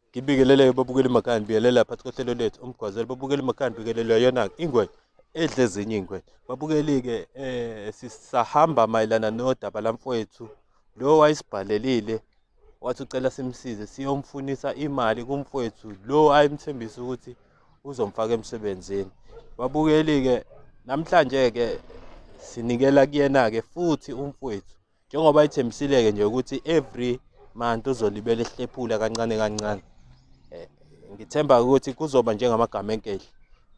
ngibingelele babukeli makhaya ngibingelela phakathi kohlelo lethu umgwazelo babukeli makhaya ngibingelelwa yona-ke ingwe edle ezinye ingwe babukeli-ke um sisahamba mayelana nodaba lamfowethu lo wayesibhalelile wathi ucela simsize siyomfunisa imali kumfowethu lo ayimthembisa ukuthi uzomfaka emsebenzini babukeli-ke namhlanje-ke sinikela kuyena-ke futhi umfowethu njengoba ithembisile-ke nje ukuthi every month uzolibela ehlephula kancane kancane eh, ngithemba ukuthi kuzoba njengamagama enkehla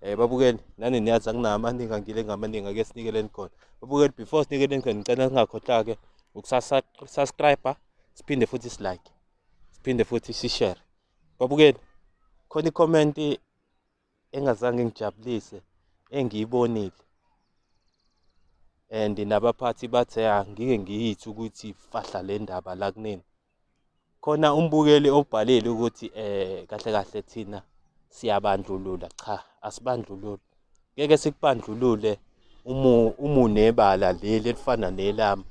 eh babukeli nani niyazi akunamaningi angile ngamaningi ake sinikeleni khona babukeli before sinikeleni khona ngicela singakhohlake ukusubscribe siphinde futhi silike siphinde futhi sishare babukeni khona i-comment engazange ngijabulise engiyibonile and nabaphathi bathe angike ngiyithi ukuthi fahla le ndaba la kunini khona umbukeli obhalile ukuthi eh kahle kahle thina siyabandlulula cha asibandlululi ngeke sikubandlulule umu umunebala leli elifana nelami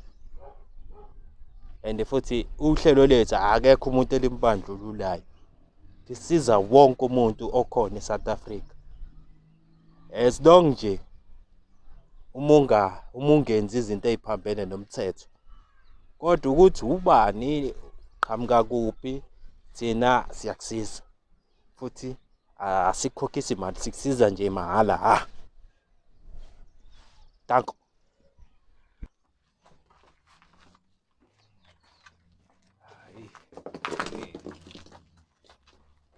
and futhi uhlelo lethu akekho umuntu elimbandlululayo lisiza wonke umuntu okhona eSouth Africa as long nje uma unga uma ungenzi izinto eziphambene nomthetho kodwa ukuthi ubani qhamuka kuphi thina siyakusiza futhi asikhokhisi imali sikusiza nje mahhala ha danko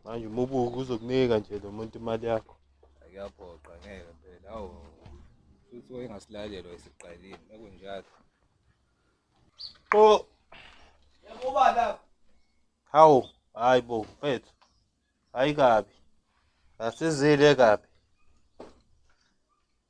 manje uma ubuka uzokunika nje lo muntu imali yakho kuyaphoqa ngeke phela awu futhi wayengasilalelwa isiqalile bekunjalo qo yakuba la hawu hayi bo mfethu hayi kabi asizile kabi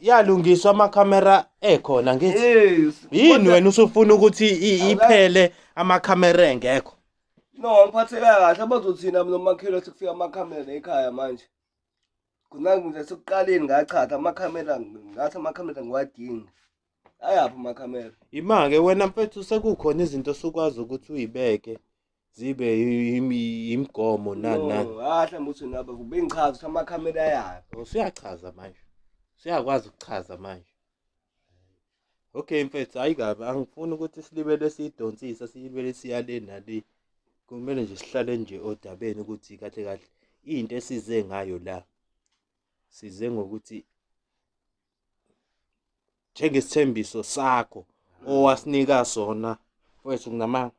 yalungiswa amakhamera ekhona ngithi Yes. yini Kodwa- wena usufuna ukuthi i- Awula- iphele amakhamera engekho No, ngiphatheka kahle abazothina mina umakhelwa sekufika amakhamera ekhaya manje. Kunangi nje sekuqaleni ngachatha amakhamera ngathi amakhamera ngiwadingi. ayaphi amakhamera imake wena mfethu sekukhona izinto sukwazi ukuthi uyibeke zibe yimigomo nani nani ah mhlawumbe uthi naba bengichaza ukuthi amakhamera ayaphi usuyachaza oh, manje siyakwazi ukuchaza manje okay mfethu hayi kabi angifuni ukuthi silibele siyidonsisa silibele siyale nale kumele nje sihlale nje odabeni ukuthi kahle kahle into esize ngayo la size ngokuthi njengesithembiso sakho owasinika sona mfowethu kunamanga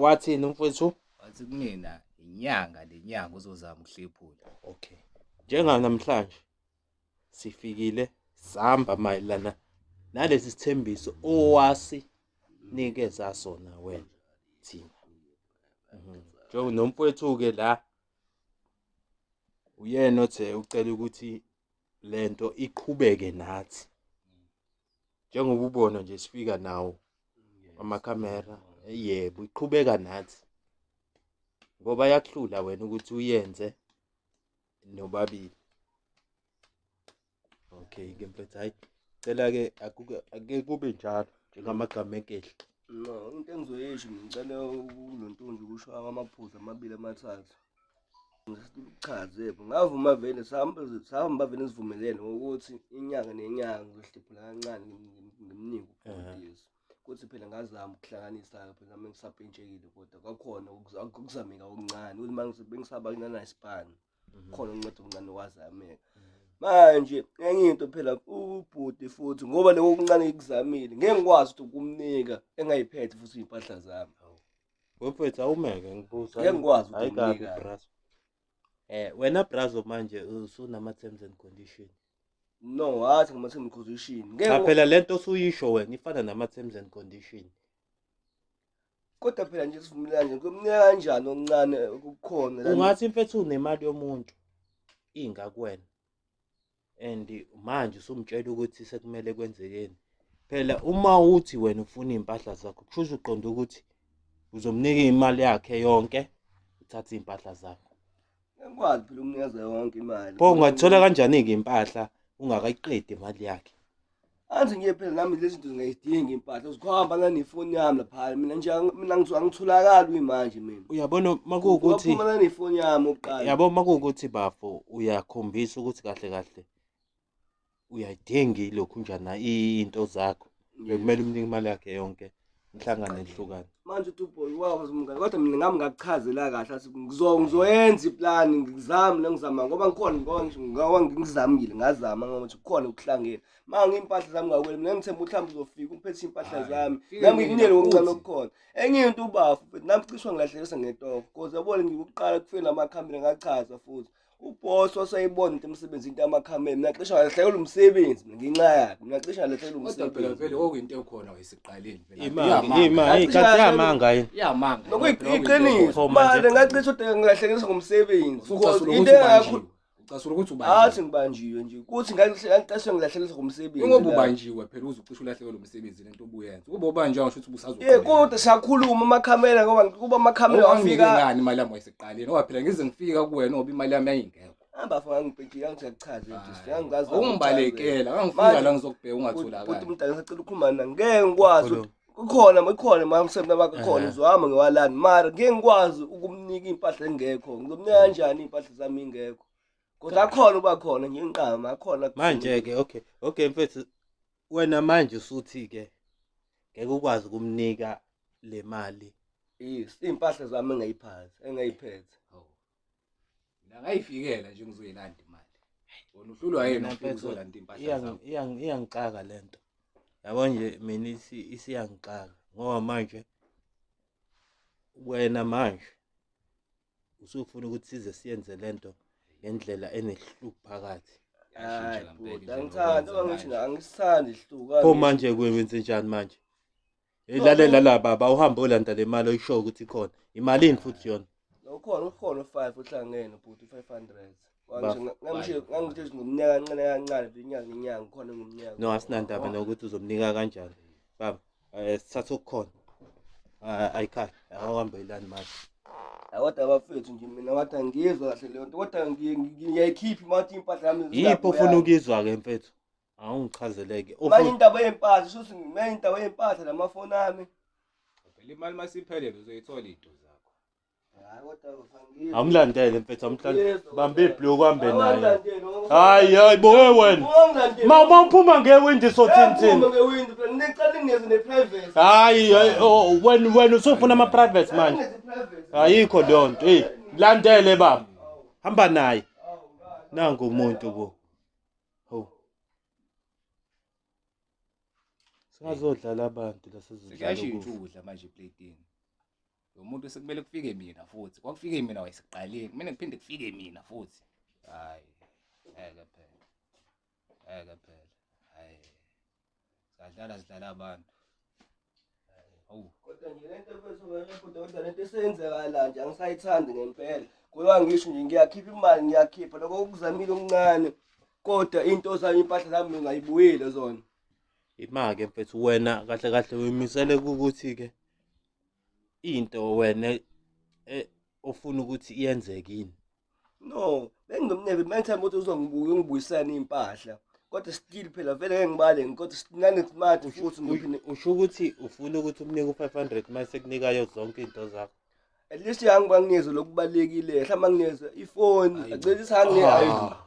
wathini mfowethu wathi kumina inyanga lenyanga uzozama ukuhlephula okay njenganamhlanje sifikile sihamba mayelana nalesi sithembiso owasinikeza sona wena thina mhm. njengonomfowethu-ke la uyena othe ucela ukuthi lento iqhubeke nathi njengoba ubona nje sifika nawo amakhamera yebo iqhubeka nathi ngoba yakuhlula wena ukuthi uyenze nobabili okay ke mfethu hayi cela ke akuke ake kube njalo njengamagama enkehla no into engizoyisho ngicela uNontunzi ukusho amaphuzu amabili amathathu ngichaze ngavuma vele sihamba sihamba vele sivumelene ukuthi inyanga nenyanga ngizohliphula kancane ngimnike ukufundisa kuthi phela ngazama ukuhlanganisa phela nami ngisapentshekile kodwa kwakhona akuzameka okuncane ukuthi uma bengisaba kunana isibani khona unceda umncane wazameka manje enye into phela ubhuti futhi ngoba leyo okuncane ikuzamile ngeke ngikwazi ukuthi ukumnika engayiphethe futhi impahla zami wephethe awumeke ngibuza ngeke ngikwazi ukumnika brazo eh wena brazo manje usunama terms and condition no wathi ngama terms and condition ngeke phela lento osuyisho wena ifana nama terms and condition kodwa phela nje sivumelane kumnyaka kanjani oncane okukhona la ungathi mfethu unemali yomuntu inga kuwena and manje usumtshela ukuthi sekumele kwenzekeni phela uma uthi wena ufuna iy'mpahla zakho kusho ukuthi uqonda ukuthi uzomnika imali yakhe yonke uthathe iy'mpahla zakho Ngikwazi phela umnikeza yonke imali. Pho ungathola kanjani ke impahla ungakayiqedi imali yakhe? Anzi ngiye phela nami lezi zinto ngiyidinga impahla uzikhomba la nefoni yami lapha mina nje mina ngithola ngitholakala uyimanje mina. Uyabona makuwukuthi Uphuma la nefoni yami uqala. Yabo makuwukuthi bafo uyakhombisa ukuthi kahle kahle uyayidinga ilokhu njana into zakho bekumele umnike imali yakhe yonke ngihlangane ngihlukane manje uthi uboy wazi umngane kodwa mina ngami ngakuchazela kahle athi ngizoyenza iplani ngizame lengizama ngoba ngikhona ngoba ngisho ngoba ngizamile ngazama ngokuthi kukhona ukuhlangene ma ngimpahla zami ngakwele mina ngithemba uhlamba uzofika umphethe impahla zami nami nginyele ngokuncane okukhona enye into ubafu futhi nami cishwa ngilahlekisa ngetoko cause yabona ngikuqala kufeni amakhamera ngachaza futhi uboss wasayibona into emsebenzi into amakhamera mina cishe ngalehlekela umsebenzi mina ngenxa yakhe mina cishe ngalehlekela kodwa phela umsebenzi vele okuyinto ekhona wayesiqaleni vele imali imali kanti yamanga yini iyamanga nokuyiqiniso manje ngacishe udeka ngilahlekelisa ngomsebenzi Because into engakho ucasula ukuthi ubanjiwe athi ngibanjiwe nje kuthi ngacishe ngilahlekelisa ngomsebenzi ingoba la. ubanjiwe phela uze ucishe ulahlekelwe umsebenzi into obuyenza kube obanjwa ngisho ukuthi busazo eh kodwa siyakhuluma amakhamera ngoba kuba amakhamera wafika ngani imali yami wayeseqaleni ngoba phela ngize ngifika kuwena ngoba imali yami yayingekho hamba faka ngibhejile angisachaze nje siyangazi ungibalekela angifika la ngizokubheka ungatholakala kodwa umdala sacela ukhuluma mina ngeke ngikwazi kukhona ikhona mamsemna bakho khona uzohamba ngewalani mara ngeke ngikwazi ukumnika impahla engekho ngizomnika kanjani impahla zami ingekho kodwa akhona uba khona nginqama akhona manje ke okay okay mfethu wena manje usuthi ke ngeke ukwazi kumnika le mali yes impahla zami engayiphathi engayiphethe oh. la ngayifikela nje ngizoyilanda imali wona uhlulwa yena ukuzolanda impahla zami iyangixaka lento yabo nje mina isiyangixaka ngoba manje wena manje usufuna ukuthi size siyenze lento ngendlela enehluku phakathi hayi bhuti angithandi uma ngithi na angisithandi ihluku pho manje kwenze njani manje ilalela la baba uhambe olanda le mali oyishoyo ukuthi ikhona imalini futhi yona ukhona ukhona u-five uhlangene bhuti u-five hundred ngangisho ngomnyaka kancane kancane inyanga inyanga ukhona ngomnyaka no asinandaba nokuthi uzomnika kanjani baba Eh sithatha okukhona. Ah, ayikhaya awahambelani manje kodwa bafethu nje mina wathi angiyizwa kahle leyo nto kodwa ngiyayikhiphi uma wathi impahla yami yiphi ofuna ukuyizwa-ke mfethu awungichazeleke manje indaba yey'mpahla shuthi manje indaba yey'mpahla namafoni ami phela imali masiphelele uzoyithola iy'nto zakho awumlandele mfethu awumlandele bambe ibhloko uhambe naye hayi hayi bowe wena ma uma uphuma ngewindi sothinthini hayi wena wena usufuna ama-private manje ayikho leyo nto eyi landele baba hamba naye nangu umuntu bo singazodlala abantu lasezidlala ukudla manje ebladini lo muntu sekumele kufike mina futhi kwakufike mina wayeseqaleni kumele kuphinde kufike mina futhi hayi ngeke phela ngeke phela hayi sadlala sidlala abantu awu kodwa nje lento mfethu ngayibhuda kodwa lento esenzekala nje angisayithandi ngempela kuyiwa ngisho nje ngiyakhipha imali ngiyakhipha lokho okuzamile okuncane kodwa into zami impahla zami ngingayibuyile zona imake mfethu wena kahle kahle uyimisele ukuthi-ke into wena eh, ofuna ukuthi iyenzeke yini no bengimnebe manje ukuthi uzongibuka ungibuyisana impahla kodwa still phela vele ngeke ngibale kodwa sinane smart futhi ngiphinde usho ukuthi ufuna ukuthi umnike u500 mase kunika yo zonke izinto zakho at least yangiba nginezo lokubalekile mhlawumbe nginezo ifoni acela isihangile ah.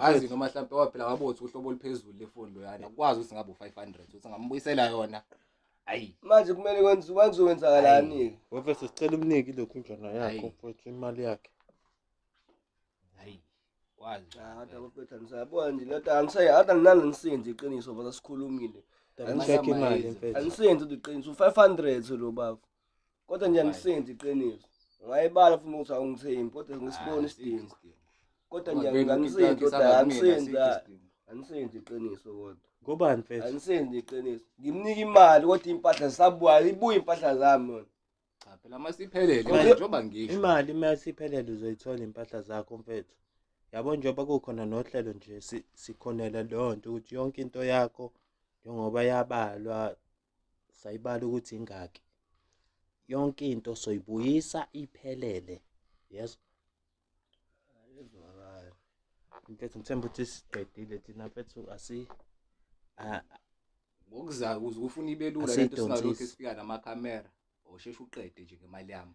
azi noma mhlawumbe waphela wabothi uhlobo oluphezulu lefoni loyana ukwazi ukuthi ngabe u500 ukuthi ngambuyisela yona ayi manje kumele kwenze kwenze wenzakalani wefe sicela umniki lokhu njana yakho futhi imali yakhe ayi kwazi hada baphetha nisayabona nje lento angisayi hada nginalo ngisenzi iqiniso baba sikhulumile angisenzi iqiniso u500 lo baba kodwa nje angisenzi iqiniso ngayibala futhi ukuthi awungithembi kodwa ngisibona ah, isidingo kodwa nje angisenzi kodwa angisenzi angisenzi iqiniso kodwa ngobani mfethu angisenzi iqiniso ngimnika imali kodwa impahla zisabuya ibuye impahla zami cha phela uma siphelele njengoba ngisho imali uma siphelele uzoyithola impahla zakho mfethu yabo njengoba kukhona nohlelo nje sikhonela leyo nto ukuthi yonke into yakho njengoba yabalwa sayibala ukuthi ingaki yonke into soyibuyisa iphelele yes ezwakala mfethu ngithemba ukuthi siqedile thina mfethu asi ngokuzayo ukuze ufuna ibelula lento singalokhu sifika namakhamera osheshe uqede nje ngemali yami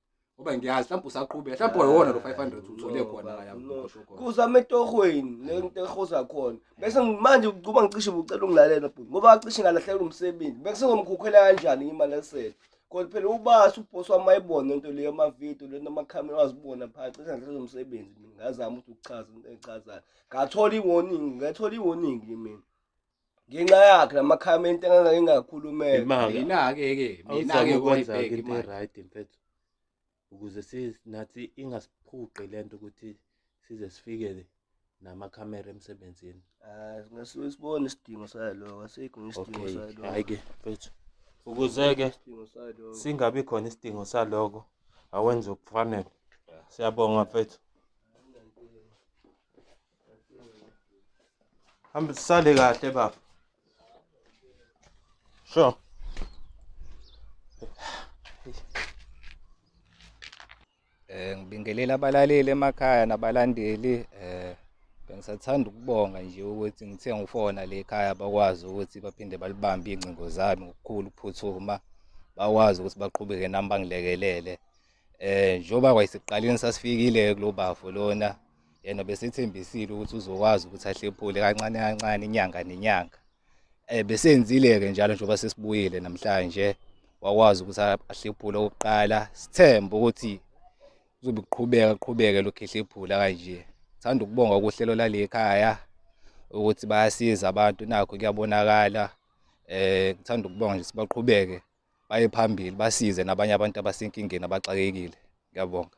ngoba ngiyazi mhlawumbe usaqhubeka mhlawumbe wayona lo 500 uthole khona kuza ametohweni lento ehoza khona bese manje ukuba ngicishe ubucela ungilalela bhuti ngoba acishe ngalahlekela umsebenzi bese ngomkhukhela kanjani imali esele kodwa phela ubasi ubhosi wami ayibona into leyo amavidiyo lento amakhamera wazibona phakathi cishe ngalahlekela umsebenzi ngazama ukuthi ukuchaza into engichazayo ngathola i-warning ngathola i-warning mina ngenxa yakhe namakhamenti engangake ngakhulumela Imanga. mina-ke ke Awuzame mina-ke ukwenza ukuyibheka into imali e-right mfethu ukuze si- nathi ingasiphuqi le nto ukuthi size sifike namakhamera emsebenzini Ah, ngasuke sibone isidingo saloko asikho ngesidingo okay saloko hhayi-ke mfethu ukuze-ke isidingo saloko singabi khona isidingo saloko awenze okufanele siyabonga mfethu Hambe sisale kahle baba. Sure. Eh ngibingelela abalaleli emakhaya nabalandeli eh bengisathanda ukubonga nje ukuthi ngithe ngifona le ekhaya bakwazi ukuthi baphinde balibambe ingcingo zami ngokukhulu ukuphuthuma bakwazi ukuthi baqhubeke nami bangilekelele eh njengoba kwayisiqaleni sasifikile kulo bafo lona yena besethembisile ukuthi uzokwazi ukuthi ahlephule kancane kancane inyanga nenyanga eh besenzile-ke njalo njengoba sesibuyile namhlanje wakwazi ukuthi ahlephule okokuqala sithembe ukuthi kuzobe kuqhubeka kuqhubeke lokhu ehlephula kanje thanda ukubonga ukuhlelo lalekhaya ukuthi bayasiza abantu nakho kuyabonakala eh ngithanda ukubonga nje sibaqhubeke baye phambili basize nabanye abantu abasenkingeni abaxakekile ngiyabonga